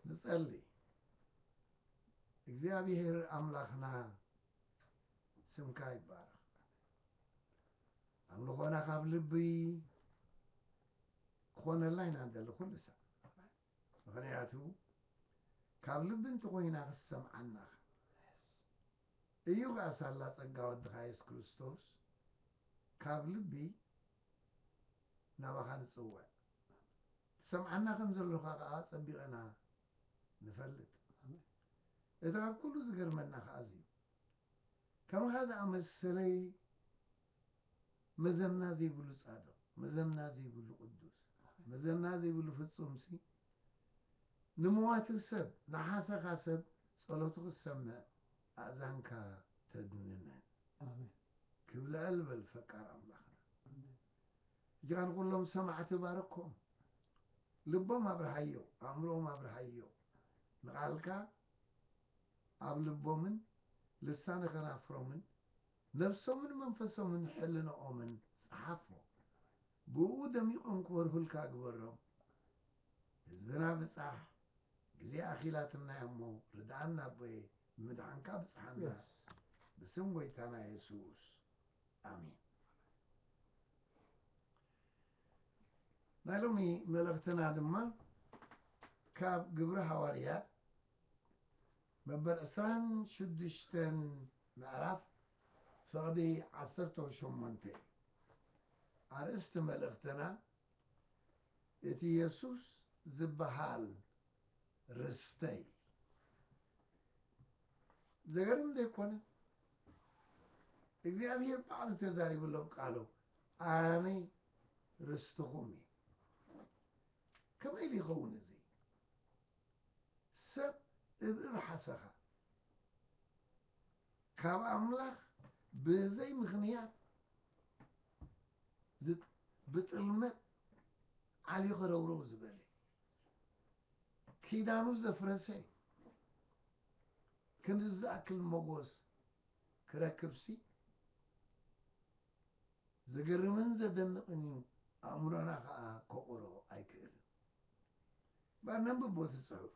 ንጸሊ እግዚኣብሔር ኣምላኽና ስምካ ይባረኽ ኣምልኾና ካብ ልብይ ክኾነልና ኢና ንደሊ ኩሉ ሳዕ ምክንያቱ ካብ ልቢ እንተኮይና ክሰምዓና እዩ ከዓ ሳላ ፀጋ ወድኻ የሱስ ክርስቶስ ካብ ልቢ ናባኻ ንፅውዕ ትሰምዓና ከም ዘሎኻ ከኣ ኣጸቢቐና ንፈልጥ። እቲ ካብ ኩሉ ዝገርመና ከኣ እዚ እዩ። ከምኻ ዝኣመሰለይ መዘና ዘይብሉ ጻድቕ፣ መዘና ዘይብሉ ቅዱስ፣ መዘና ዘይብሉ ፍጹምሲ፣ ንመዋቲ ሰብ፣ ንሓሰኻ ሰብ ጸሎቱ ክትሰምዕ ኣእዛንካ ተድንነን። ክብለል በል ፈቃር ኣምላኽና። እዚኣ ንኹሎም ሰማዕቲ ባርኮም ልቦም ኣብርሃዮ ኣእምሮኦም ኣብርሃዮ ንቓልካ ኣብ ልቦምን ልሳነ ከናፍሮምን ነብሶምን መንፈሶምን ሕልንኦምን ጽሓፎ ብእኡ ደሚቖም ክበርሁልካ ግበሮም ህዝብና ብጻሕ ግዜ ኣኺላትና እያ እሞ ርድኣና ኣቦየ ብምድሓንካ ብጽሓና ብስም ጎይታና የሱስ ኣሜን ናይ ሎሚ መልእኽትና ድማ ካብ ግብሪ ሃዋርያት መበል ዕስራን ሽዱሽተን ምዕራፍ ፍቕዲ ዓሰርተ ሸሞንተ እዩ ኣርእስቲ መልእኽትና እቲ የሱስ ዝበሃል ርስተይ ዘገርም ዘይኮነ እግዚኣብሄር ባዕሉ ተዛሪብሎም ቃሉ ኣነ ርስትኹም እየ ከመይ ኢሉ ይኸውን እዚ ሰብ እብእብ ሓሰኻ ካብ ኣምላኽ ብዘይ ምኽንያት ብጥልመት ዓልዩ ከረውረው ዝበለ ኪዳኑ ዘፍረሰ ክንድዚ ዝኣክል ሞጎስ ክረክብሲ ዘገርምን ዘደንቕን እዩ ኣእምሮና ከኣ ከቑሮ ኣይክእልን እምበር ነንብቦ እቲ ጽሑፍ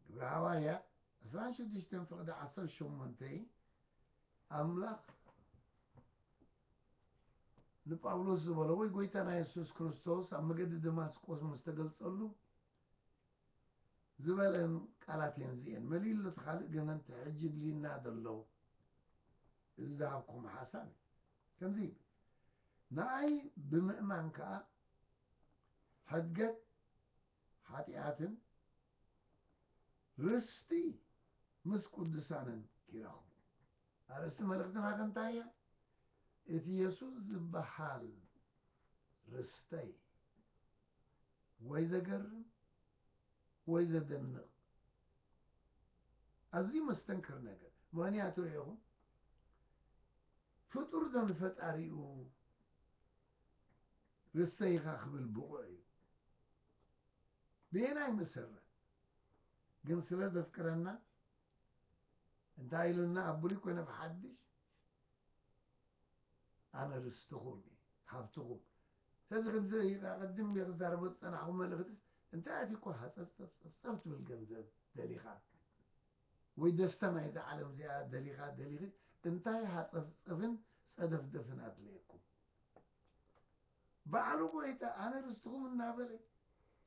ግብረ ሃዋርያ ዕስራን ሽዱሽተን ፍቕዲ ዓሰርተ ሸሞንተ ኣምላኽ ንጳውሎስ ዝበሎ ወይ ጎይታና የሱስ ክርስቶስ ኣብ መገዲ ደማስቆስ ምስ ተገልጸሉ ዝበለን ቃላት እየን እዚኤን መሊኡ ኣሎ እቲ ካልእ ግን እቲ ሕጂ እድልዩና ዘሎ እዚ ዝሃብኩም ሓሳብ እዩ ከምዚ ይብል ንኣይ ብምእማን ከዓ ሕድገት ሓጢኣትን ርስቲ ምስ ቅዱሳንን ይረኽቡ ኣርእስቲ መልእኽትና ከንታይ እያ እቲ የሱስ ዝበሃል ርስተይ ወይ ዘገርም ወይ ዘደንቕ ኣዝዩ መስተንክር ነገር ምክንያቱ ርኢኹም ፍጡር ዶ ንፈጣሪኡ ርስተይ ኢኻ ክብል ብቑዕ እዩ ብየናይ መሰረት ግን ስለ ዘፍቅረና እንታይ ኢሉና ኣብ ብሉይ ኮነ ብሓድሽ ኣነ ርስትኹም እዩ ሃብትኹም ሰዚ ከምዚ ኢዩ ከኣ ቅድም ኢለ ክዛረቦ ዝጸናሕኩ መልእኽትስ እንታይ ኣትዩኳ ሃጸፍጸፍጸፍጸፍ ትብል ገንዘብ ደሊኻ ወይ ደስታ ናይዛ ዓለም እዚኣ ደሊኻ ደሊኺ እንታይ ሃጸፍጸፍን ጸደፍደፍን ኣድለየኩም ባዕሉ ጎይታ ኣነ ርስትኹም እናበለ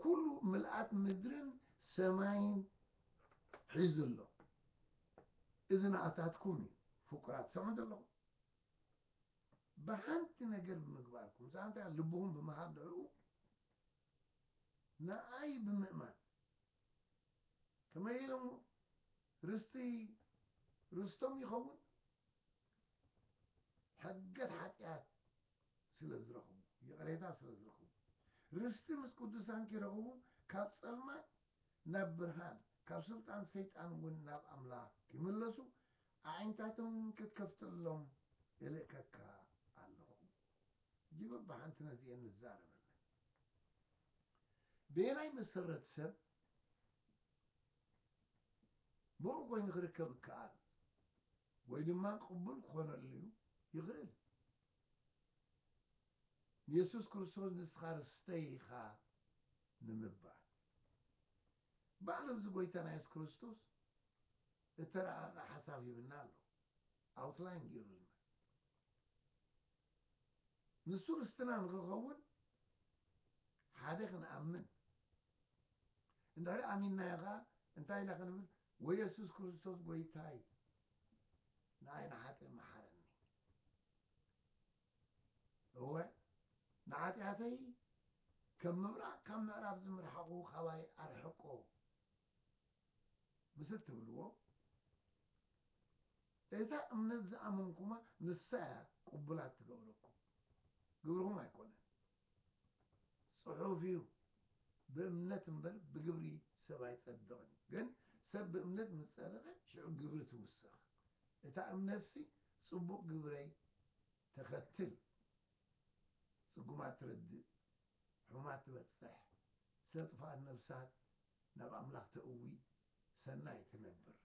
ኩሉ ምልኣት ምድርን ሰማይን ሒዙ ኣሎ እዚ ንኣታትኩም እዩ ፍቁራት ሰምዑ ዘለኹም ብሓንቲ ነገር ብምግባርኩም፣ ንሳ እንታይ እያ? ልብኹም ብምሃብ ንዕኡ ንኣይ ብምእማን ከመይ ኢሎሞ ርስቲ ርስቶም ይኸውን ሕገት ሓጢኣት ስለ ዝረኽቡ ይቕሬታ ስለ ዝረኽቡ ርስቲ ምስ ቅዱሳን ኪረኽቡ ካብ ጸልማት ናብ ብርሃን ካብ ስልጣን ሰይጣን እውን ናብ ኣምላኽ ኪምለሱ ኣዒንታቶም ክትከፍተሎም እልእከካ ኣለኹ። ሕጂ በብሓንቲ ነዚኤን ንዛረበለን። በየናይ መሰረት ሰብ ብቑዕ ኮይኑ ክርከብ እከኣል ወይ ድማ ቅቡል ክኾነሉ ይኽእል? ንየሱስ ክርስቶስ ንስኻ ርስተይ ኢኻ ንምባል፣ ባዕሉ እዚ ጎይታና የሱስ ክርስቶስ እተራቐቐ ሓሳብ ሂብና ኣሎ፣ ኣውትላይን ገይሩልና። ንሱ ርስትና ንኽኸውን ሓደ ክንኣምን፣ እንድሕሪ ኣሚንናዮ ኸኣ እንታይ ኢና ክንብል? ወየሱስ ክርስቶስ ጎይታይ ንኣይ ንሓጥእ መሓረኒ። እወ ንኃጢኣተይ ከም ምብራቕ ካብ ምዕራብ ዝምርሓቑ ካባይ ኣርሕቆ ምስ እትብልዎ እታ እምነት ዝኣመንኩማ ንሳ እያ ቅቡላት ትገብረኩም ግብርኹም ኣይኮነን ጽሑፍ እዩ ብእምነት እምበር ብግብሪ ሰብ ኣይጸድቕን እዩ ግን ሰብ ብእምነት ምስ ጸደቐ ሽዑ ግብሪ ትውሰኽ እታ እምነትሲ ጽቡቕ ግብረይ ተኸትል ጽጉማት ትረድእ ሑማት ትበጽሕ ስለ ጥፋኣት ነፍሳት ናብ ኣምላኽ ተእዊ ሰናይ ትነብር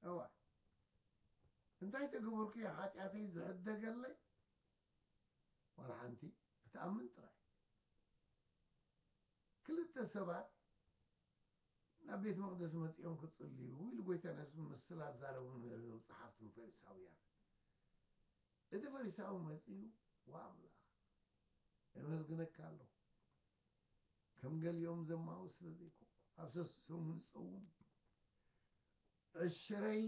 እዋ እንታይ ተገበርኩ እዩ ሓጢኣተይ ዝሕደገለይ ዋላ ሓንቲ ክትኣምን ጥራይ። ክልተ ሰባት ናብ ቤት መቕደስ መጺኦም ክጽልዩ ኢሉ ጐይታ ንህዝቢ ምስ ስላዛረቡ ንገር እዞም ጸሓፍትን ፈሪሳውያን እቲ ፈሪሳዊ መጺኡ ዋ ኣምላኽ የመስግነካ ኣለኹ ከም ገሊኦም ዘማዊ ስለ ዘይኮንኩ ኣብ ሰሱ ሰሙን ዝጸውም ዕሽረይ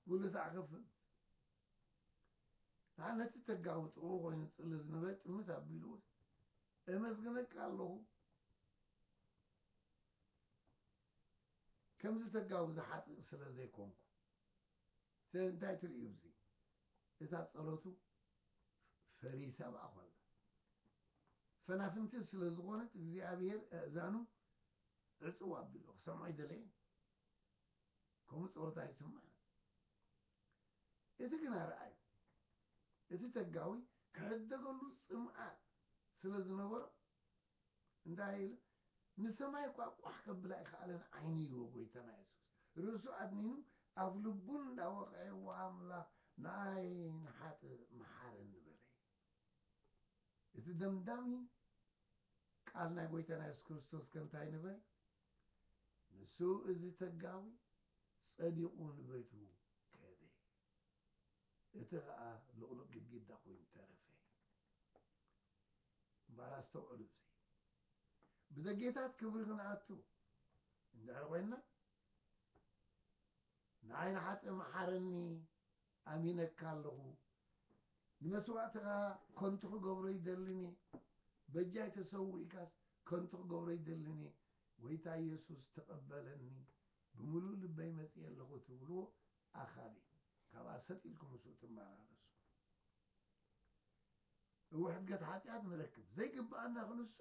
ጉልት ኣኸፍል ንዓ ነቲ ተጋዊ ጥቕኡ ኮይኑ ዝጽሊ ዝነበረ ጥምት ኣቢሉ ኤመስግነካ ኣለኹ ከምዚ ተጋዊ ዝሓጥእ ስለ ዘይኮንኩ ስለዚ እንታይ ትርእዩ ብዚ እታ ጸሎቱ ፈሪሳ ብኣ ኮላ ፈናፍንቲ ስለ ዝኾነት እግዚኣብሔር ኣእዛኑ ዕጽው ኣቢሉ ክሰምዖ ኣይደለየን ከምኡ ጸሎት ኣይስማዕ እቲ ግና ርኣይ፣ እቲ ተጋዊ ክሕደገሉ ጽምኣት ስለ ዝነበሮ፣ እንታይ ኢሉ፣ ንሰማይ እኳ ቋሕ ከብላ ኣይኸኣለን ዓይኑ ኢልዎ ጐይታና የሱስ። ርእሱ ኣድኒኑ ኣፍ ልቡ እንዳወቕዔ እወ ኣምላኽ ንኣይ ንሓጥእ መሓረኒ በለ እዩ። እቲ ደምዳሚ ቃል ናይ ጐይታና የሱስ ክርስቶስከ እንታይ ነበረ? ንሱ እዚ ተጋዊ ጸዲቑ ንቤቱ ከደ። እቲ ኸኣ ልቕሉቕ ግድግዳ ኮይኑ ተረፈ። እምበኣር ኣስተውዕሉ እዚ ብደጌታት ክብሪ ክንኣቱ እንድሕር ኮይንና ንዓይ ንሓጥእ መሓረኒ ኣሚነካ ኣለኹ ንመስዋእትኻ ከንቱ ክገብሮ ኣይደልን እየ በጃይ ተሰዊእካስ ከንቱ ክገብሮ ኣይደልን እየ ጎይታ የሱስ ተቀበለኒ ብምሉእ ልበይ መጺኤ ኣለኹ ትብልዎ ኣኻል እዩ ካብኣ ሰጥ ኢልኩም ምስኡ ትመላለሱ እወ ሕድገት ሓጢኣት ንረክብ ዘይግብኣና ክንሱ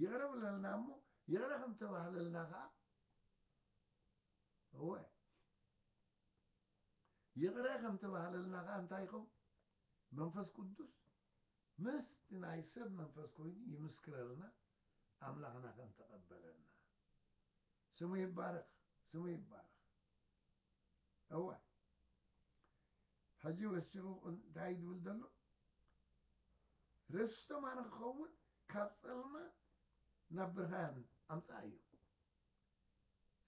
ይቕረ ብለልና እሞ ይቕረ ከም ተባህለልና ኸኣ እወ ይቕረ ከም ተባህለልና ከኣ እንታይ ይኸውን? መንፈስ ቅዱስ ምስቲ ናይ ሰብ መንፈስ ኮይኑ ይምስክረልና ኣምላኽና ከም ተቐበለና። ስሙ ይባረኽ ስሙ ይባረኽ። እወ ሕጂ ወሲኹ እንታይ ድብል ዘሎ ርስቶም ኣነ ክኸውን ካብ ጸልማት ናብ ብርሃን ኣምጽኣዮ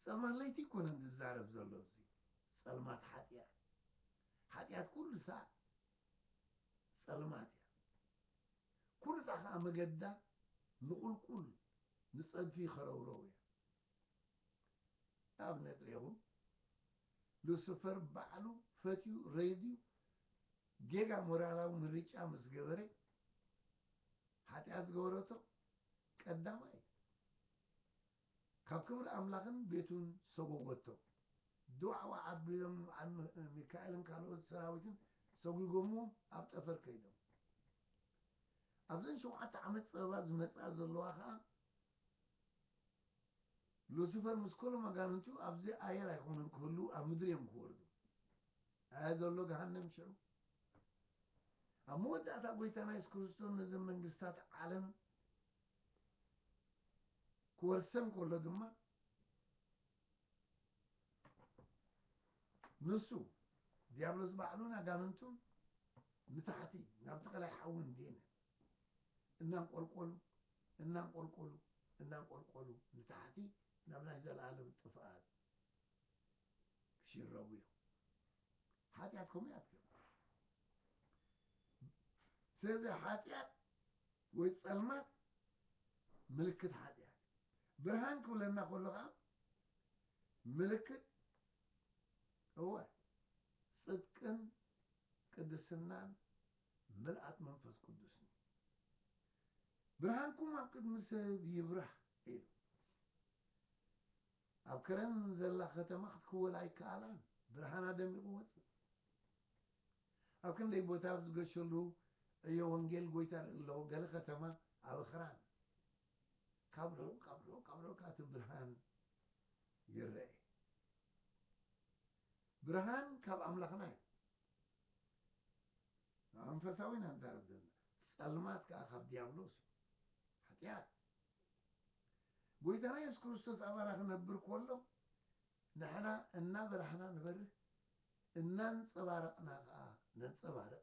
ጸልማት ለይቲ ኣይኮነን ዝዛረብ ዘሎ ኣብዚ ጸልማት ሓጥያት ሓጥያት ኩሉ ሳዕ ጸልማት እያ ኩሉ ሳዕ ከዓ መገዳ ንቁልቁል ንጸድፊ ከረውረው እያ ኣብነት ሬኹም ሉስፈር ባዕሉ ፈትዩ ረይድዩ ጌጋ ሞራላዊ ምርጫ ምስ ገበረ ሓጢኣት ዝገበረቶ ቀዳማይ ካብ ክብሪ ኣምላኽን ቤቱን ሰጐጐቶ። ዱዓዋ ኣቢሎም ንበዓል ሚካኤልን ካልኦት ሰራዊትን ሰጒጐምዎም ኣብ ጠፈር ከይዶም። ኣብዘን ሸውዓተ ዓመት ጸበባ ዝመጽኣ ዘለዋ ኸኣ ሉሲፈር ምስ ኰሎም ኣጋንንቱ ኣብዚ ኣየር ኣይኮኑን ክህልዉ ኣብ ምድሪ እዮም ክወርዱ። ኣየ ዘሎ ገሃነም ሽዑ! ኣብ መወዳእታ ጐይታና የሱስ ክርስቶስ ነዘን መንግስታት ዓለም ክወርሰን ከሎ ድማ ንሱ ዲያብሎስ ባዕሉን ኣጋንንቱን ንታሕቲ ናብቲ ቀላይ ሓዊ እንዲነ እናንቆልቆሉ እናንቆልቆሉ እናንቆልቆሉ ንታሕቲ ናብ ናይ ዘለኣለም ጥፍኣት ክሽረቡ እዮም ሓጢኣት ከምኡ እያ ትገብር ስለዚ ሓጢኣት ወይ ጸልማት ምልክት ሓጢኣት እዩ። ብርሃን ክብለና ከሎ ከኣ ምልክት እወ ጽድቅን ቅድስናን ምልኣት መንፈስ ቅዱስን እዩ። ብርሃንኩም ኣብ ቅድሚ ሰብ ይብራህ ኢሉ። ኣብ ከረን ዘላ ከተማ ክትክወል ኣይከኣላን፣ ብርሃና ደሚቑ ወጽእ። ኣብ ክንደይ ቦታ ኣብ ዝገሸሉ ዕዮ ወንጌል ጎይታ ርኢ ኣለኹ፣ ገለ ከተማ ኣብ ኣኽራን ካብ ርሑቕ ካብ ርሑቕ ካብ ርሑቕ ከኣ እቲ ብርሃን ይረኤ። ብርሃን ካብ ኣምላኽና እዩ። ንመንፈሳዊ ኢና ንዛረብ ዘለና፣ ጸልማት ከኣ ካብ ድያብሎስ እዩ፣ ሓጢኣት። ጎይታና የሱስ ክርስቶስ ኣባና ክነብር ከሎ ንሕና እናበራህና ንበርህ እናንጸባረቕና ከኣ ነንጸባርቕ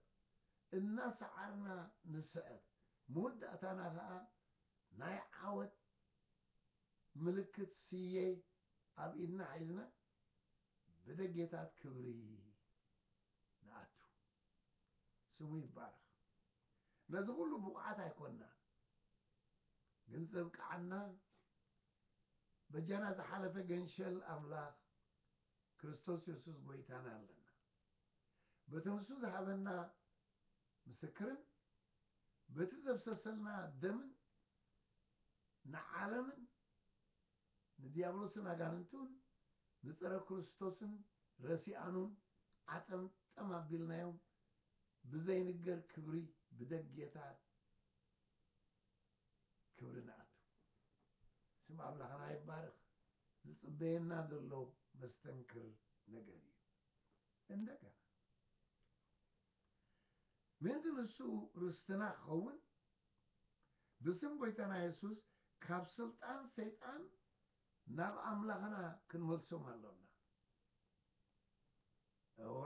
እናሰዓርና ንስዕር መወዳእታና ከኣ ናይ ዓወት ምልክት ስየ ኣብ ኢድና ሒዝና ብደጌታት ክብሪ ንኣቱ። ስሙ ይባረኽ። ነዚ ኩሉ ብቑዓት ኣይኮናን ግን ዘብቅዓና በጃና ዝሓለፈ ገንሸል ኣምላኽ ክርስቶስ የሱስ ጎይታና ኣለና በቲ ንሱ ዝሃበና ምስክርን በቲ ዘፍሰሰልና ደምን ንዓለምን ንዲያብሎስን ኣጋንንቱን ንጸረ ክርስቶስን ረሲኣኑን ዓጠምጠም ኣቢልናዮም ብዘይንገር ክብሪ ብደጌታ ክብሪ ንኣቱ ስም ኣምላኽና ይባረኽ ዝጽበየና ዘሎ መስተንክር ነገር እዩ እንደገና ምእንቲ ንሱ ርስትና ክኸውን ብስም ጎይታና የሱስ ካብ ስልጣን ሰይጣን ናብ ኣምላኽና ክንመልሶም ኣሎና እወ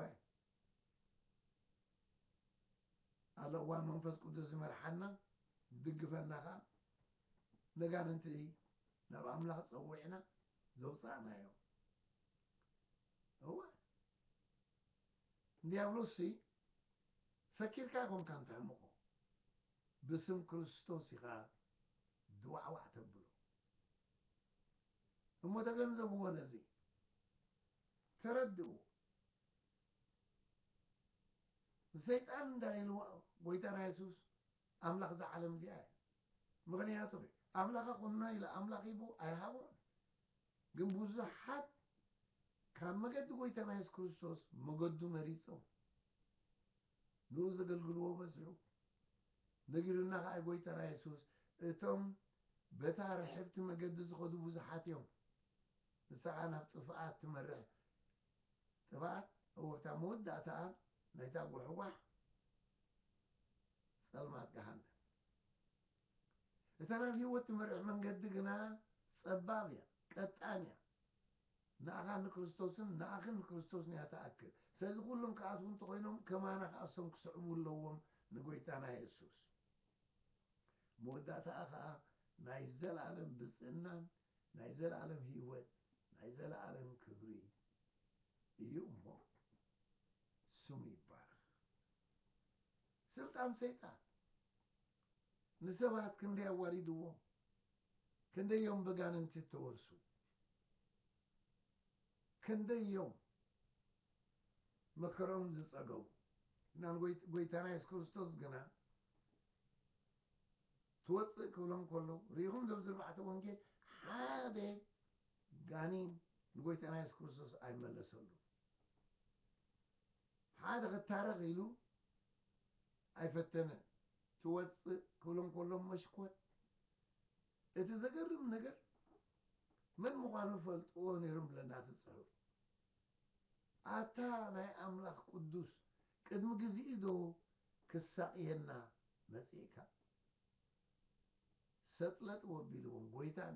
ኣሎ እዋን መንፈስ ቅዱስ ዝመርሓና ዝድግፈና ከኣ ነጋንንቲ ናብ ኣምላኽ ጸዊዕና ዘውጻእናዮ እወ እንዲያብሎስሲ ፈኪርካ ኣይኮንካን ተሕምቆ ብስም ክርስቶስ ኢኻ ድዋዕዋዕ ተብሎ እሞ ተገንዘብዎ ነዚ ተረድእዎ ንሰይጣን እንታይ ኢልዎ ጎይታና የሱስ ኣምላኽ እዛ ዓለም እዚኣ እዩ ምኽንያቱ ኣምላኻ ኩኖ ኢለ ኣምላኽ ሂቡ ኣይሃቦን ግን ብዙሓት ካብ መገዲ ጎይታና የሱስ ክርስቶስ መገዱ መሪጾም ንኡ ዘገልግልዎ በዝሑ። ነጊሩና ከኣ ጎይታና የሱስ እቶም በታ ርሕብቲ መገዲ ዝኸዱ ብዙሓት እዮም። ንሳ ከኣ ናብ ጥፍኣት ትመርሕ። ጥፍኣት እወ እታ መወዳእታኣ ናይታ ጉሕጓሕ ጸልማት ገሃነም። እታ ናብ ህይወት ትመርሕ መንገዲ ግና ጸባብ እያ፣ ቀጣን እያ። ንኣኻን ንክርስቶስን ንኣኽን ንክርስቶስን እያ ትኣክል። ስለዚ ኩሎም ክኣትዉ እንተኾይኖም ከማና ከኣ እሶም ክስዕቡ ኣለዎም ንጎይታና የሱስ። መወዳእታኣ ከኣ ናይ ዘለኣለም ብጽእናን ናይ ዘለኣለም ህይወት ናይ ዘለኣለም ክብሪ እዩ እሞ ስሙ ይባረኽ። ስልጣን ሰይጣን ንሰባት ክንደይ ኣዋሪድዎም ክንደይ እዮም በጋንንቲ እተወርሱ ክንደይ እዮም መከርኦም ዝጸገቡ እና ጎይታና የሱስ ክርስቶስ ግና ትወፅእ ክብሎም ከሎ ርኢኹም ዘብ ዝርባዕተ ወንጌል ሓደ ጋኒን ንጎይታና የሱስ ክርስቶስ ኣይመለሰሉ ሓደ ክታረቕ ኢሉ ኣይፈተነን። ትወጽእ ክብሎም ከሎ መሽኮት። እቲ ዘገርም ነገር መን ምዃኑ ይፈልጥዎ ነይሮም ብለና እቲ ጽሑፍ። ኣታ ናይ ኣምላኽ ቅዱስ ቅድሚ ግዚኡ ዶ ክሳቕየና መጺእካ? ሰጥለጥ ወቢልዎም ጎይታን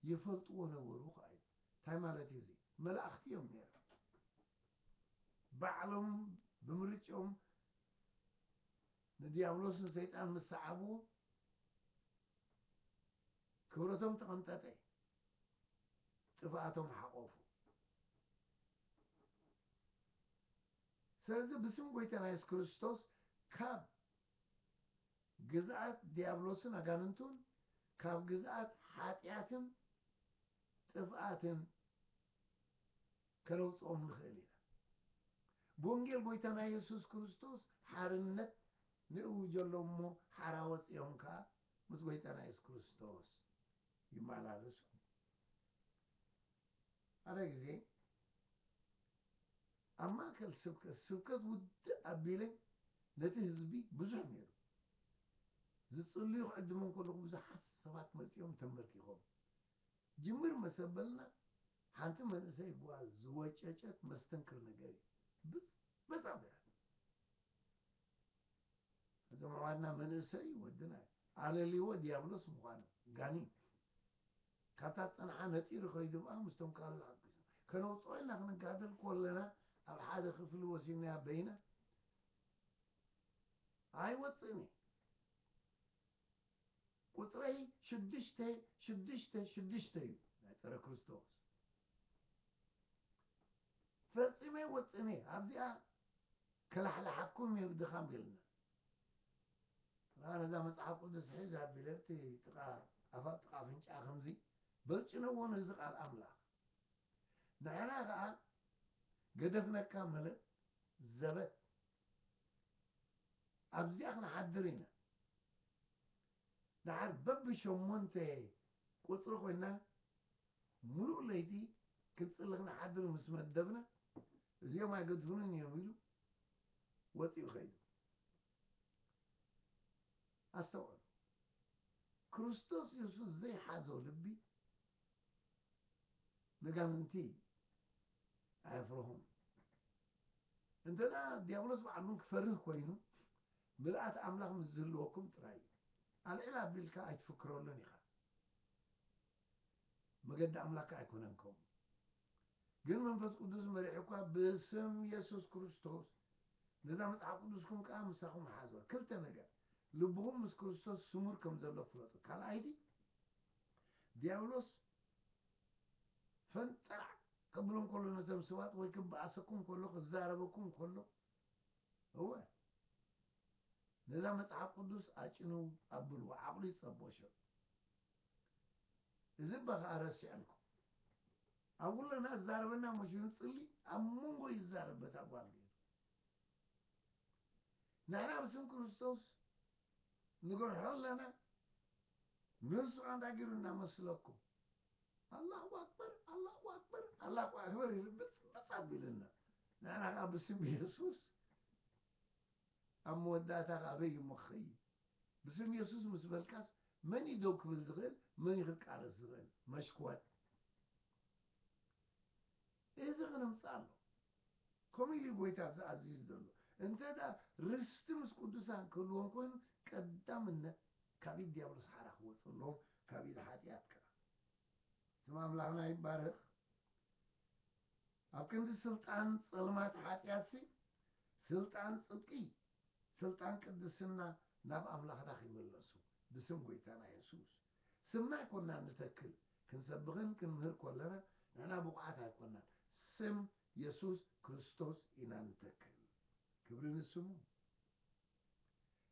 ይፈልጥዎ ነበሩ ከኣዩ። እንታይ ማለት እዩ እዚ? መላእኽቲ እዮም ነይሮም። ባዕሎም ብምርጭኦም ንድያብሎስ ንሰይጣን ምስ ሰዓብዎ ክብረቶም ተቐንጠጠ፣ ጥፍኣቶም ሓቖፉ። ስለዚ ብስም ጐይታና የሱስ ክርስቶስ ካብ ግዝኣት ድያብሎስን ኣጋንንቱን ካብ ግዝኣት ሓጢኣትን ጥፍኣትን ከነውጽኦም ንኽእል ኢና። ብወንጌል ጐይታና የሱስ ክርስቶስ ሓርነት ንእውጀሎም እሞ ሓራ ወጺኦም ከኣ ምስ ጐይታና የሱስ ክርስቶስ ይመላለሱ ኣለዉ። ሓደ ግዜ ኣብ ማእከል ስብከት፣ ስብከት ውድእ ኣቢለ ነቲ ህዝቢ ብዙሕ ነይሩ፣ ዝጽልዩ ክዕድሞም ከለኹ ብዙሓት ሰባት መጺኦም ተንበርኪኾም ጅምር መሰበልና ሓንቲ መንእሰይ ጓል ዝወጨጨት መስተንክር ነገር እዩ ብዝ በጣም በያት እዞም ኣሕዋትና መንእሰይ ወድና ኣለልዎ ዲያብሎስ ምዃኑ ጋኒን ካብታ ጸንሓ ነጢሩ ከይዱ በኣ ምስቶም ካልኦት ሓቂሱ ከነውጽኦ ኢልና ክንጋደል ኮለና ኣብ ሓደ ክፍሊ ወሲድናያ በይና ኣይወጽእን እዩ ቁጽረይ ሽዱሽተ ሽዱሽተ ሽዱሽተ እዩ ናይ ጸረ ክርስቶስ ፈጺመ ወጽነ ኣብዚኣ ከላሕላሓኩም እዩ ድኻም ገልና ጥራ ነዛ መጽሓፍ ቅዱስ ሒዝ ኣቢለ ኣብቲ ጥቓ ኣፋብ ጥቓ ኣፍንጫ ከምዚ በልጭነዎ ነዚ ቃል ኣምላኽ ንሕና ከዓ ገደፍነካ ማለት ዘበት ኣብዚኣ ክንሓድር ኢና ደሓር በቢ ሸሞንተ ቁጽሪ ኮይና ምሉእ ለይቲ ክንጽሊ ክንሓድር ምስ መደብና እዚኦም ኣይገድፉንን እዮም ኢሉ ወጺኡ ከይዱ። ኣስተውዕሉ ክርስቶስ የሱስ ዘይሓዞ ልቢ መጋምንቲ ኣየፍርሁን እንተ ዲያብሎስ በዓል እውን ክፈርህ ኮይኑ ምልኣት ኣምላኽ ምስ ዝህልወኩም ጥራይ እዩ ኣልዒል ኣቢልካ ኣይትፍክረሉን ኢኻ መገዲ ኣምላክ ኣይኮነን ከምኡ ግን መንፈስ ቅዱስ መሪሑ እኳ ብስም የሱስ ክርስቶስ ነዛ መጽሓፍ ቅዱስኩም ከዓ ምሳኹም ሓዝዋ ክልተ ነገር ልብኹም ምስ ክርስቶስ ስሙር ከም ዘሎ ፍለጡ ካልኣይቲ ድያብሎስ ፈንጠራዕ ከብሎም ከሎ ነቶም ሰባት ወይ ክበኣሰኩም ከሎ ክዛረበኩም ከሎ እወ ነዛ መጽሓፍ ቅዱስ ኣጭንው ኣብልዎ ዓቕሉ ይጸቦሾ እዚ እባ ከዓ ረሲዐልኩም ኣብ ኩለና ዝዛረበና መሽን ጽሊ ኣብ መንጎ ይዛረብ በታ ጓል ገይሩ ንሕና ብስም ክርስቶስ ንገርሖ ኣለና ነሱ ኣንታይ ገሩ እና መስለኩም ኣላሁ ኣክበር ኣላሁ ኣክበር ኣላሁ ኣክበር ኢሉ ብጽ ብጽ ኣቢሉና ንሕና ከኣ ብስም የሱስ ኣብ መወዳእታ ከኣ ኣበይ እሞ ክኸይድ ብስም የሱስ ምስ በልካስ መን እዩ ደው ክብል ዝኽእል መን እዩ ክቃለስ ዝኽእል መሽኮር እዚ ኽነምጽእ ኣሎ ከምኡ ኢሉ እዩ ጎይታ ኣብዚ ኣዚዙ ዘሎ እንተ ርስቲ ምስ ቅዱሳን ክህልዎም ኮይኑ ቀዳምነት ካብ ኢድ ድያብሎስ ሓራ ክወጸሎም ካብ ኢድ ሓጥያት ከኣ ስም ኣምላኽና ይባረኽ ኣብ ክንዲ ስልጣን ጸልማት ሓጥያትሲ ስልጣን ጽድቂ ስልጣን ቅድስና ናብ ኣምላኽና ኺምለሱ ብስም ጎይታና የሱስ ስምዕ ኮና ንተክል ክንሰብኽን ክንምህር ኮለና ንሕና ብቑዓት ኣይኮናን ስም የሱስ ክርስቶስ ኢና ንተክል ክብሪ ንስሙ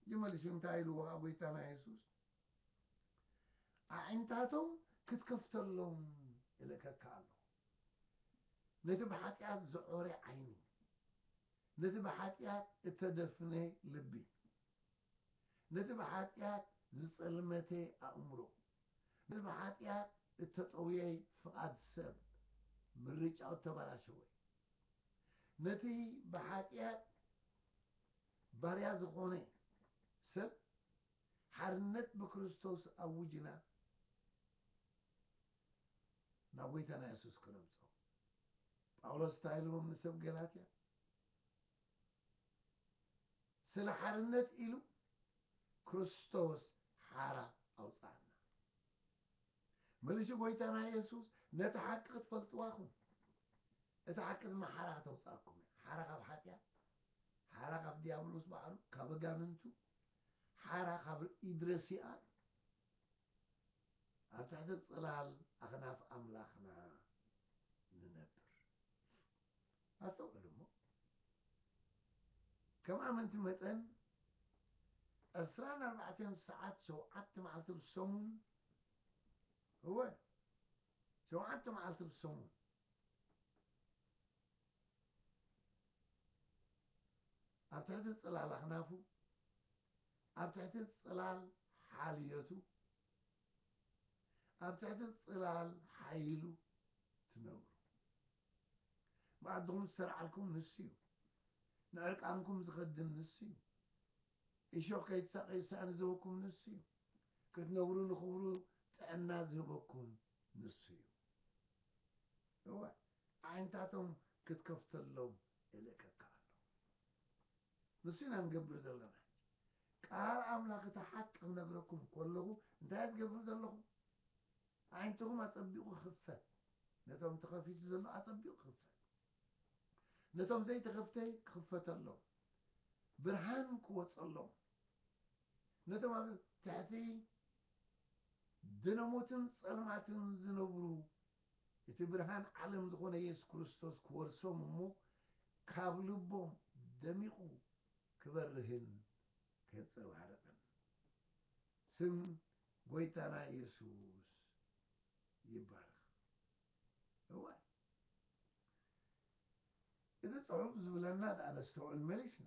እጂ መልሱ እንታይ ኢልዎ ከኣ ጎይታና የሱስ ኣዒንታቶም ክትከፍተሎም እልእከካ ኣለኹ ነቲ ብሓጢኣት ዝዖረ ዓይኒ ነቲ ብሓጢኣት እተደፍነ ልቢ ነቲ ብኃጢኣት ዝጸልመተ ኣእምሮ፣ ነቲ ብኃጢኣት እተጠውየ ፍቓድ ሰብ፣ ምርጫኡ እተበላሸወ፣ ነቲ ብኃጢኣት ባርያ ዝኾነ ሰብ ሓርነት ብክርስቶስ ኣውጅና ናብ ጐይታና የሱስ ክነምጾ። ጳውሎስ እንታይ ኢልዎም ንሰብ ገላትያ? ስለ ሓርነት ኢሉ ክርስቶስ ሓራ ኣውጽኣና። መልሲ ጎይታና የሱስ ነቲ ሓቂ ክትፈልጥዋ ኩን እታ ሓቂ ድማ ሓራ ከተውጽኣኩም እያ። ሓራ ካብ ሓጢኣት፣ ሓራ ካብ ዲያብሎስ በዓሉ፣ ካብ ኣጋንንቱ፣ ሓራ ካብ ኢድረሲኣን፣ ኣብ ትሕቲ ጽላል ኣኽናፍ ኣምላኽና ንነብር። ኣስተውዕሉ እሞ፣ ከም ኣመንቲ መጠን ዕስራን ኣርባዕተን ሰዓት ሸውዓተ መዓልቲ ኣብ ሰሙን፣ እወ ሸውዓተ መዓልቲ ኣብ ሰሙን ኣብ ትሕቲ ጽላል ኣኽናፉ ኣብ ትሕቲ ጽላል ሓልዮቱ፣ ኣብ ትሕቲ ጽላል ሓይሉ ትነብሩ። መኣድኹም ዝሰርዓልኩም ንሱ'ዩ፣ ንዕርቃንኩም ዝኸድን ንሱ'ዩ፣ እሾኽ ከይትሳቐዩ ሳእኒ ዝህበኩም ንሱ'ዩ፣ ክትነብሩ ንኽብሩ ጥዕና ዝህበኩም ንሱ'ዩ። እወ፣ ኣዒንታቶም ክትከፍተሎም እልእከካ ኣለኹ። ንሱ ኢና ንገብር ዘለና ሕጂ ቃል ኣምላኽ እቲ ሓቂ ክነግረኩም ኮለኹ እንታይ እየ ዝገብር ዘለኹ ኣዒንትኹም ኣጸቢቑ ክኽፈት ነቶም ተኸፊቱ ዘሎ ኣጸቢቑ ክኽፈት ነቶም ዘይተኸፍተ ክኽፈተሎም ብርሃን ክወጸሎም ነቶም ኣብ ትሕቲ ድነሞትን ጸልማትን ዝነብሩ እቲ ብርሃን ዓለም ዝኾነ የሱስ ክርስቶስ ክወርሶም እሞ ካብ ልቦም ደሚቑ ክበርህን ከንጸባርቕን ስም ጎይታና የሱስ ይባረኽ። እዋይ እቲ ጽሑፍ ዝብለና ድኣ ነስተውዕል መሊስና።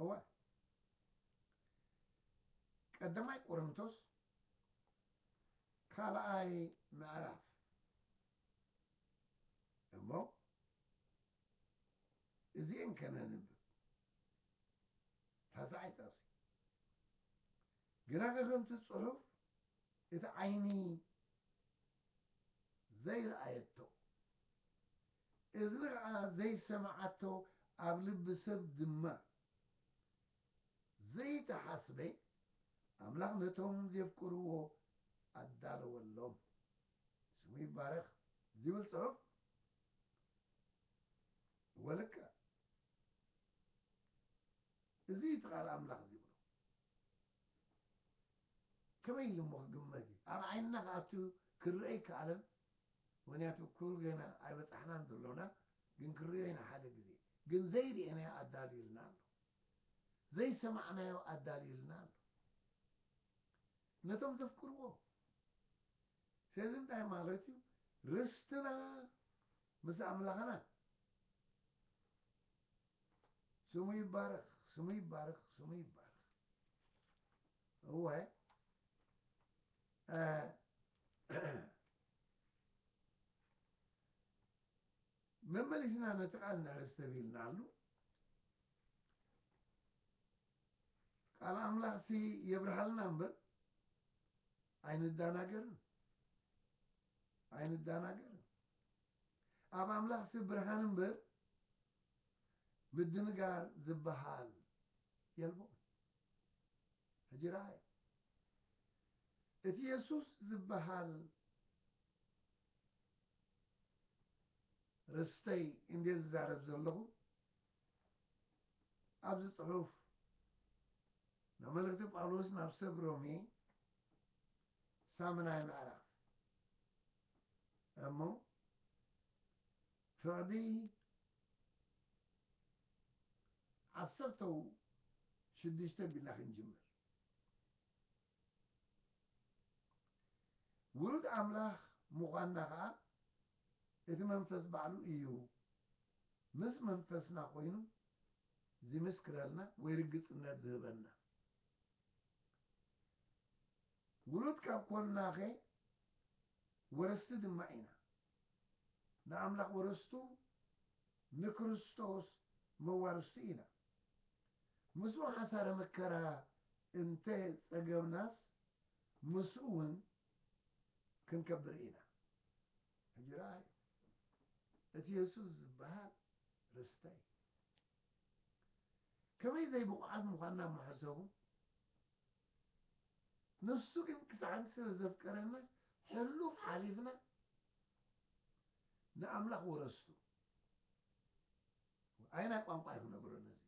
እወ፣ ቀዳማይ ቆሮንቶስ ካልኣይ ምዕራፍ እሞ እዚኤን ከነንብብ ታስዓይ ጥቕሲ ግናኸ ከምቲ ጽሑፍ እቲ ዓይኒ ዘይረኣየቶ እዝኒ ኸኣ ዘይሰምዓቶ ኣብ ልቢ ሰብ ድማ ዘይተሓስበ ኣምላኽ ነቶም ዜፍቅርዎ ኣዳለወሎም። ስሙ ይባረኽ። ዚብል ጽሑፍ ወልቀ እዚ እዩ እቲ ቃል ኣምላኽ ዚብሎ። ከመይ ኢሉ እሞ ኪግመት እዩ? ኣብ ዓይንና ኸኣ እቲ ኪርኣ ኣይከኣለን። ምክንያቱ ኩሉ ገና ኣይበጻሕናን ዘሎና ግን ክንሪኦ ኢና ሓደ ግዜ ግን ዘይርኤናዮ ኣዳልዩልና ኣሎ ዘይሰማዕናዮ ኣዳልዩልና ኣሎ ነቶም ዘፍቅርዎ ስለዚ እንታይ ማለት እዩ ርስትና ምስ ኣምላኽና ስሙ ይባረኽ ስሙ ይባረኽ ስሙ ይባረኽ እወ መመሊስና ነቲ ቃል ነርስተ ቢልናሉ ቃል ኣምላኽ ሲ የብርሃልና እምበር ኣይንዳናገርን ኣይንዳናገርን ኣብ ኣምላኽ ሲ ብርሃን እምበር ምድንጋር ዝበሃል የልቦን ሕጂ ረኣይ፣ እቲ የሱስ ዚብሃል ርስተይ እንድየ ዝዛረብ ዘለኹ፣ ኣብዚ ጽሑፍ ናብ መልእኽቲ ጳውሎስ ናብ ሰብ ሮሜ ሳምናይ ምዕራፍ እሞ ፍርዲ ዓሰርተው ሽዱሽተ ቢልና ክንጅምር። ውሉድ ኣምላኽ ምዃንና ኸኣ እቲ መንፈስ ባዕሉ ኢዩ ምስ መንፈስና ኮይኑ ዚምስክረልና ወይ ርግጽነት ዚህበና። ውሉድ ካብ ኰንናኸ ወረስቲ ድማ ኢና። ንኣምላኽ ወረስቱ ንክርስቶስ መዋርስቱ ኢና። ምስኡ ሓሳረ መከራ እንተ ጸገብናስ ምስኡ ውን ክንከብር ኢና። ሕጂ ረኣዩ እቲ የሱስ ዝበሃል ርስተይ ከመይ ዘይብቑዓት ምዃንና ምሐሰቡ ንሱ ግን ክሳዕ ሕጂ ስለ ዘፍቀረናስ ሕሉፍ ሓሊፍና ንኣምላኽ ወረስቱ ኣይናይ ቋንቋ እዩ ክነግሮ ነዚ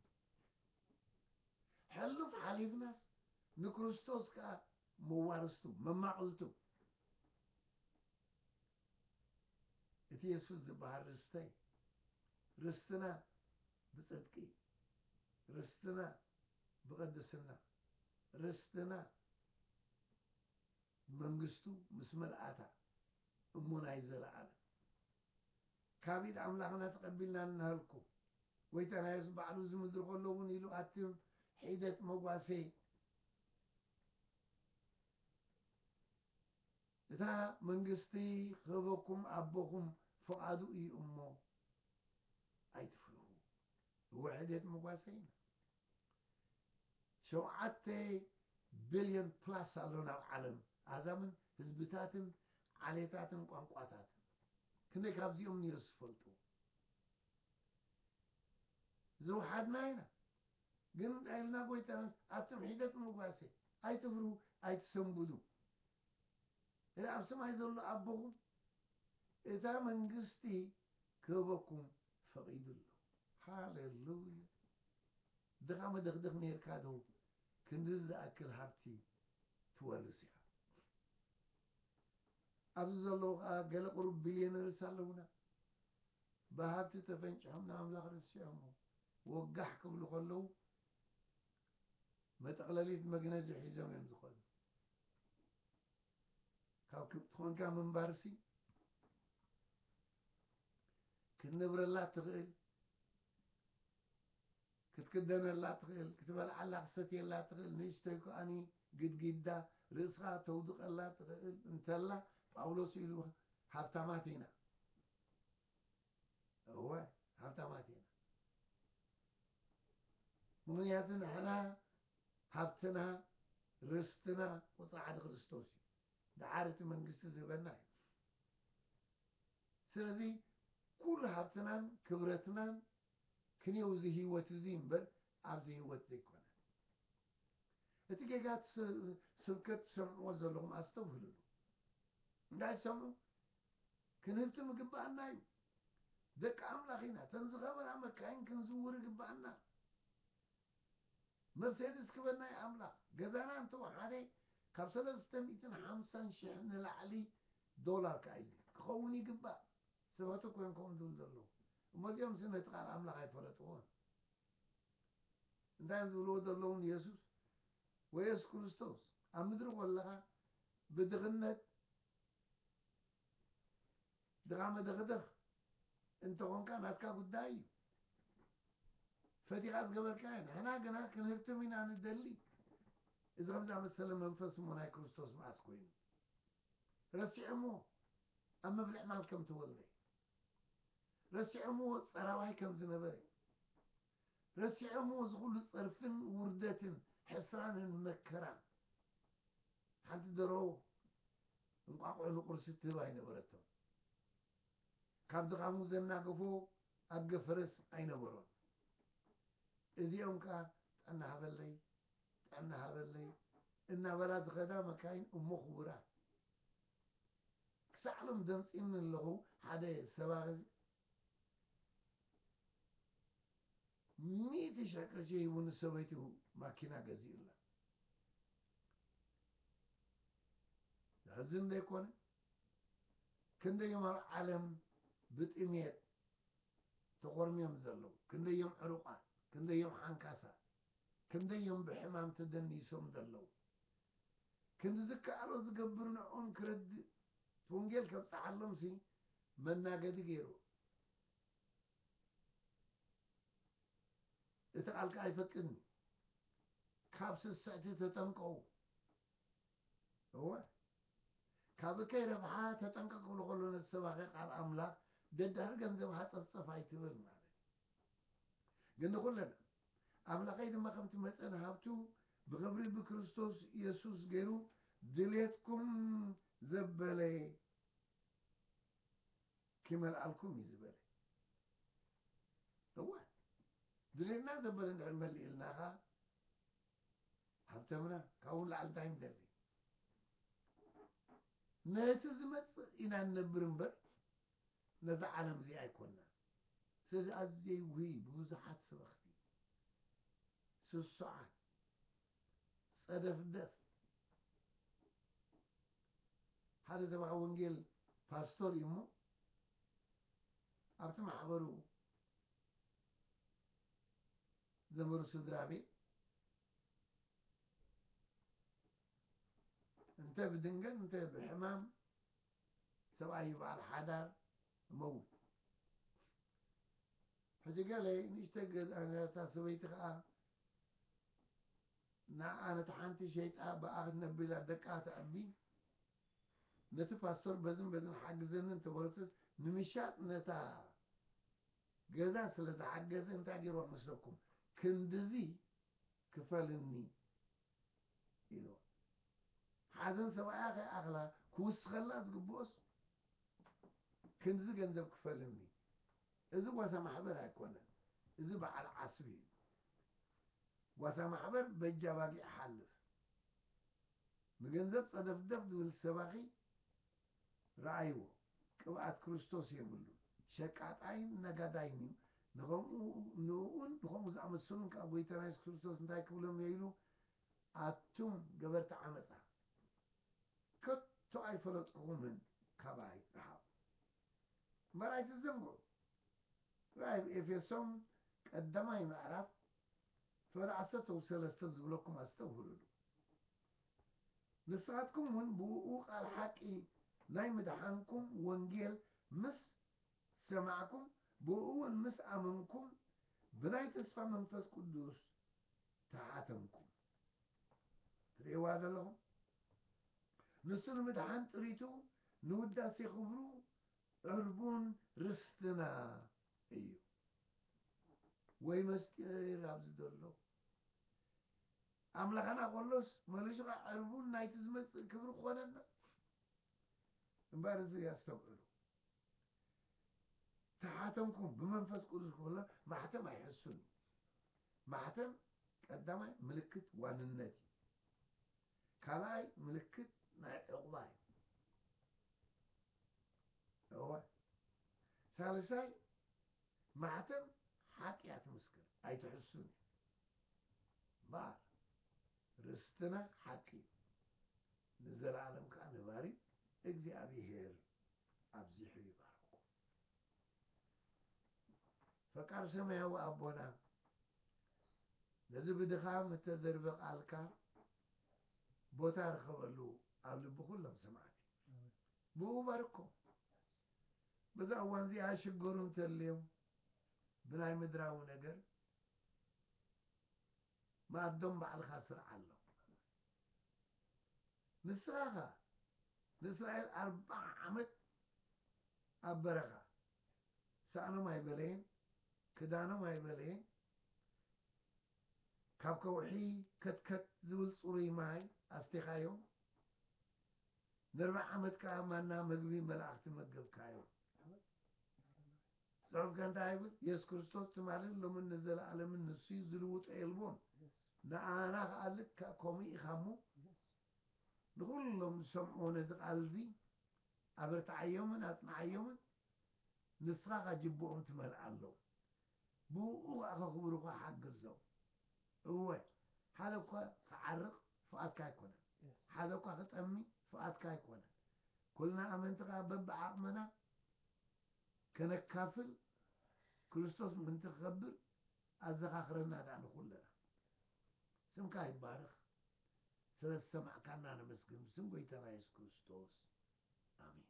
ሕሉፍ ሓሊፍናስ ንክርስቶስ ከዓ መዋርስቱ መማቕልቱ እቲ የሱስ ዝበሃል ርስተይ ርስትና ብፅድቂ ርስትና ብቅድስና ርስትና መንግስቱ ምስ ምልኣታ እሞ ናይ ዘለኣለም ካብ ኢድ ኣምላኽና ተቐቢልና እንሃልኩ ጐይታና የሱስ ባዕሉ እዚ ምድሪ ከሎ እውን ኢሉ ኣቲ ሒደት መጓሰይ እታ መንግስቲ ክህበኩም ኣቦኹም ፍቓዱ እዩ እሞ ኣይትፍርሁ ውሕደት መጓሰ ኢና ሸውዓተ ቢልዮን ፕላስ ኣሎና ኣብ ዓለም ኣህዛብን ህዝብታትን ዓሌታትን ቋንቋታትን ክንደይ ካብዚኦም ንዮ ዝፈልጡ ዝውሓድና ኢና ግን እንታይ ኢልና ጎይታናስ ኣቱም ሒደት መጓሰ ኣይትፍሩ ኣይትሰንብዱ እለ ኣብ ሰማይ ዘሎ ኣቦኹም እታ መንግስቲ ክህበኩም ፈቂዱ ኣሎ ሃሌሉያ ድኻ መደኽደኽ ኔርካ ዶ ክንድዚ ዝኣክል ሃብቲ ትወርስ ኢኻ ኣብዚ ዘለዉ ከኣ ገለ ቁሩብ ቢልዮነርስ ኣለዉና ብሃብቲ ተፈንጭሖም ንኣምላኽ ረሲዖሞ ወጋሕ ክብሉ ከለዉ መጠቕለሊት መግነዚ ሒዞም እዮም ዝኸዱ ካብ ክብቲ ኮንካ ምንባርሲ ክትነብረላ እትኽእል ክትክደነላ እትኽእል ክትበልዓላ ክትሰትየላ እትኽእል ንእሽተይ ከኣኒ ግድግዳ ርእስኻ ተውድቐላ እትኽእል እንተላ ጳውሎስ ኢሉ ሃብታማት ኢና እወ ሃብታማት ኢና ምክንያቱ ንሕና ሃብትና ርስትና ቁፅሪ ሓደ ክርስቶስ እዩ ደሓር እቲ መንግስቲ ዝህበና እዩ ስለዚ ኩሉ ሃብትናን ክብረትናን ክንየው እዚ ህይወት እዚ እምበር ኣብዚ ህይወት ዘይኮነ። እቲ ጌጋ እቲ ስብከት ትሰምዕዎ ዘለኹም ኣስተብህልሉ። እንታይ ትሰምዑ? ክንህብትም ይግብኣና እዩ። ደቂ ኣምላኽ ኢና። እተን ዝኸበራ መካይን ክንዝውር ይግብኣና። መርሴድስ ክበናይ ኣምላኽ ገዛና እንተ ወሓደ ካብ ሰለስተ ሚእትን ሓምሳን ሽሕ ንላዕሊ ዶላር ከኣ እዩ ክኸውን ይግባእ ሰባቱ ኮንኮም ዝብሉ ዘለዉ እሞ እዚኦምሲ ነቲ ቃል ኣምላኽ ኣይፈለጥዎን እንታይ እዮም ዝብልዎ ዘለዉ ንየሱስ ወየሱስ ክርስቶስ ኣብ ምድሪ ኮለኻ ብድኽነት ድኻ መደኽደኽ እንተኾንካ ናትካ ጉዳይ እዩ ፈቲኻ ዝገበርካዮ ንሕና ግና ክንህብትም ኢና ንደሊ እዚ ከምዚ ኣመሰለ መንፈስ እሞ ናይ ክርስቶስ መኣስ ኮይኑ ረሲዖምዎ ኣብ ምፍልሕማል ከም ተወልደ ረሲዖምዎ ጸራዋይ ከም ዝነበረ ረሲዖምዎ እዚ ኩሉ ጸርፍን ውርደትን ሕስራንን መከራን ሓንቲ ደርሆ እንቋቑሖ ንቁርሲ ትህብ ኣይነበረቶን ካብ ድኻሙ ዘናገፎ ኣድገ ፈረስ ኣይነበሮን እዚኦም ከኣ ጥዕና ሃበለይ ጥዕና ሃበለይ እናበላ ዝኸዳ መካይን እሞ ክቡራት ክሳዕ ሎም ደምጺኒ ኣለኹ ሓደ ሰባኺ ሚእቲ ሽሕ ቅርሺ ሂቡ ንሰበይቱ ማኪና ገዚኡላ። ዘሕዝን ዶ ኣይኮነን? ክንደዮም ኣብ ዓለም ብጥሜት ተኾርምዮም ዘለዉ? ክንደዮም ዕሩቓት? ክንደዮም ሓንካሳት? ክንደዮም ብሕማም ተደኒሶም ዘለዉ? ክንዲ ዝከኣሎ ዝገብር ንዕኡም ክረድእ እቲ ወንጌል ከብጽሓሎምሲ መናገዲ ገይሩ እቲ ቃልካ ኣይፈቅድን እዩ ካብ ስስዕቲ ተጠንቀቑ እወ ካብ እከይ ረብሓ ተጠንቀቅ ክብሎ ከሎ ነቲ ሰባኺ ቃል ኣምላኽ ደዳር ገንዘብ ሃፀፍፀፍ ኣይትበል ማለት ግን ንኩለና ኣምላኸይ ድማ ከምቲ መጠን ሃብቱ ብኽብሪ ብክርስቶስ የሱስ ገይሩ ድሌትኩም ዘበለ ኪመልኣልኩም እዩ ዝበለ። እወ ድሌትና ዘበለ እንድሕር መሊእልና ኸኣ ሃብተምና ካብኡ ንላዕሊ እንታይ ንደሊ? ነቲ ዝመጽእ ኢና ንነብር እምበር ነዛ ዓለም እዚኣ ኣይኮናን ስለዚ ኣዝየይ ውህይ ብብዙሓት ስበኽቲ ስሱዓት ጸደፍደፍ ሓደ ሰብኣዊ ወንጌል ፓስቶር እዩ እሞ ኣብቲ ማሕበሩ ዘመሩ ስድራ ቤት እንተ ብድንገት እንተ ብሕማም ሰብኣይ ይብዓል ሓዳር እመውት ሕጂ ገለ ንእሽተይ ገዛ ነራታ ሰበይቲ ከኣ ንዓኣ ነታ ሓንቲ ሸይጣ ብኣ ክትነብር ኢላ ደቃ ተዕቢ ነቲ ፓስቶር በዝን በዝን ሓግዘኒ እንተበለቶስ ንምሻጥ ነታ ገዛ ስለ ዝሓገዘ እንታይ ገይርዋ መስለኩም ክንድዚ ክፈልኒ ኢልዋ። ሓዘን ሰብኣያ ከይኣኽላ ክውስኸላ ዝግብኦስ ክንድዚ ገንዘብ ክፈል እምኒ። እዚ ጓሳ ማሕበር ኣይኮነን እዚ በዓል ዓስቢ እዩ። ጓሳ ማሕበር በጃ ኣባጊዕ ሓልፍ። ንገንዘብ ጸደፍደፍ ዝብል ሰባኺ። ረኣይዎ ቅብኣት ክርስቶስ የብሉን ሸቃጣይን ነጋዳይን እዩ ንከምኡ ንእኡን ንከምኡ ዝኣመሰሉን ከኣ ጎይታና የሱስ ክርስቶስ እንታይ ክብሎም እዮ ኢሉ ኣቱም ገበርቲ ዓመጻ ከቶ ኣይፈለጥኩኩምን ካባይ ርሓቁ እምበር ኣይትዘንግዑ ረኣይ ኤፌሶም ቀዳማይ ምዕራፍ ፈረ ዓሰርተው ሰለስተ ዝብለኩም ኣስተብህሉሉ። ንስኻትኩም እውን ብእኡ ቃል ሓቂ ናይ ምድሓንኩም ወንጌል ምስ ሰማዕኩም ብእኡውን ምስ ኣመንኩም ብናይ ተስፋ መንፈስ ቅዱስ ተሓተምኩም። ትርእይዋ ዘለኹም? ንሱ ንምድሓን ጥሪቱ ንውዳሴ ክብሩ ዕርቡን ርስትና እዩ ወይ መስጢር ኣብዚ ዘሎ ኣምላኸና ከሎስ መሊሱ ኸዓ ዕርቡን ናይቲ ዝመጽእ ክብሪ ክኾነና እምበር እዚ ኣስተውዕሉ ተሓተምኩም ብመንፈስ ቅዱስ ክብሎ ማሕተም ኣይሕሱን እዩ ማሕተም ቀዳማይ ምልክት ዋንነት እዩ ካልኣይ ምልክት ናይ ዕቑባ እዩ። እወ ሳልሳይ ማሕተም ሓጢኣት ምስክር ኣይትሕሱን እዩ። እምበኣር ርስትና ሓቂ እዩ፣ ንዘለኣለም ከዓ ነባሪ እግዚኣብሄር ኣብዚሑ ይባርኩም። ፈቃር ሰማያዊ ኣቦና ነዚ ብድኻም እተዘርበ ቃልካ ቦታ ርኸበሉ ኣብ ልቢ ኩሎም ሰማዕቲ ብኡ ባርኮ በዛ እዋን እዚኣ ሽገሩ እንተልዮም ብናይ ምድራዊ ነገር ማዶም ባዕልኻ ስርዓ ኣሎ ንስኻኻ ንእስራኤል ኣርብዓ ዓመት ኣብ በረኻ ሳእኖም ኣይበለየን ክዳኖም ኣይበለየን ካብ ከውሒ ከትከት ዝብል ፅሩይ ማይ ኣስቴኻዮም ንርብዓ ዓመት ከዓ ማና ምግቢ መላእኽቲ መገብካዮም ጽሑፍ ከ እንታይ ይብል የሱስ ክርስቶስ ትማልን ሎምን ንዘለኣለምን ንሱ እዩ ዝልውጦ የልቦን ንኣና ከኣ ልክዕ ከምኡ ኢካ እሞ ንኩሎም ዝሰምዕዎ ነዚ ቃል እዚ ኣበርትዓዮምን ኣጽንዓዮምን ንስካ ከ ጅብኦም ትመልኣሎም ብእኡ ከኣ ከክብሩካ ሓግዞም እወ ሓደ እኳ ክዓርቅ ፍቃድካ ኣይኮነን ሓደ እኳ ክጠሚ ፍቃድካ ኣይኮነን ኩልና ኣመንቲ ከኣ በብዓቅምና ከነካፍል ክርስቶስ ምእንቲ ክከብር ኣዘካክረና ድኣ ንኩልና። ስምካ ይባረኽ ስለ ዝሰማዕካና ነመስግን ብስም ጎይታና የሱስ ክርስቶስ ኣሜን።